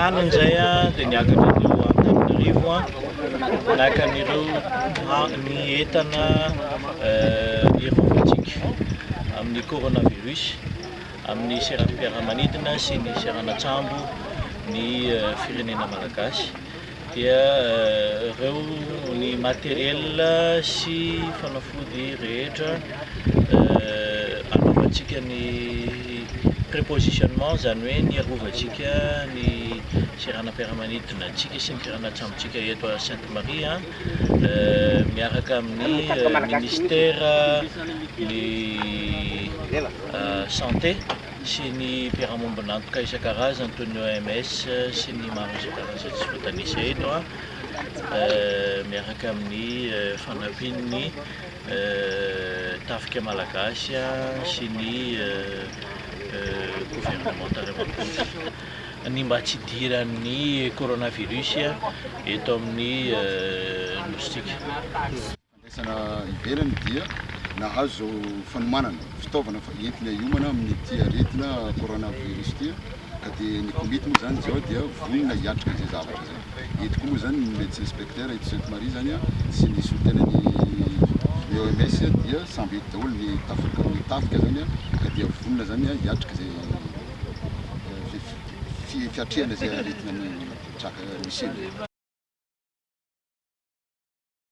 Rano indray dia niakatra teo Antananarivo naka an'ireo ny entana aeronautique amin'ny coronavirus. amin'ny seram-piaramanidina sy ny seranan-tsambo ny firenena malagasy dia ireo ny matériel sy fanafody rehetra anaovantsika ny prépositionnement izany hoe ny arovantsika ny seranam-piaramanidina antsika sy ny seranan-tsambontsika eto à Sainte Marie miaraka amin'ny ministère ny Santé sy ny mpiara-mombon'antoka isan-karazany toy ny OMS sy ny maro isan-karazany izay tsy voatanisa eto, miaraka amin'ny fanampian'ny tafika malagasy sy ny governemanta iray manontolo, ny mba tsy hidiran'ny coronavirus eto amin'ny Nosintsika. Fandraisana ivelany dia nahazo fanomanana fitaovana entina hiomana amin'ity aretina coronavirus ity ka dia ny komity moa izany izao dia vonona hiatrika izay zavatra izay. Eto koa moa izany ny Médecin Inspecteur eto Sainte Marie izany sy ny solontenan'ny ny OMS dia samby eto daholo ny tafika ny tafika izany ka dia vonona izany hiatrika izay fi fiatrehana izay aretina mitraka misy eny.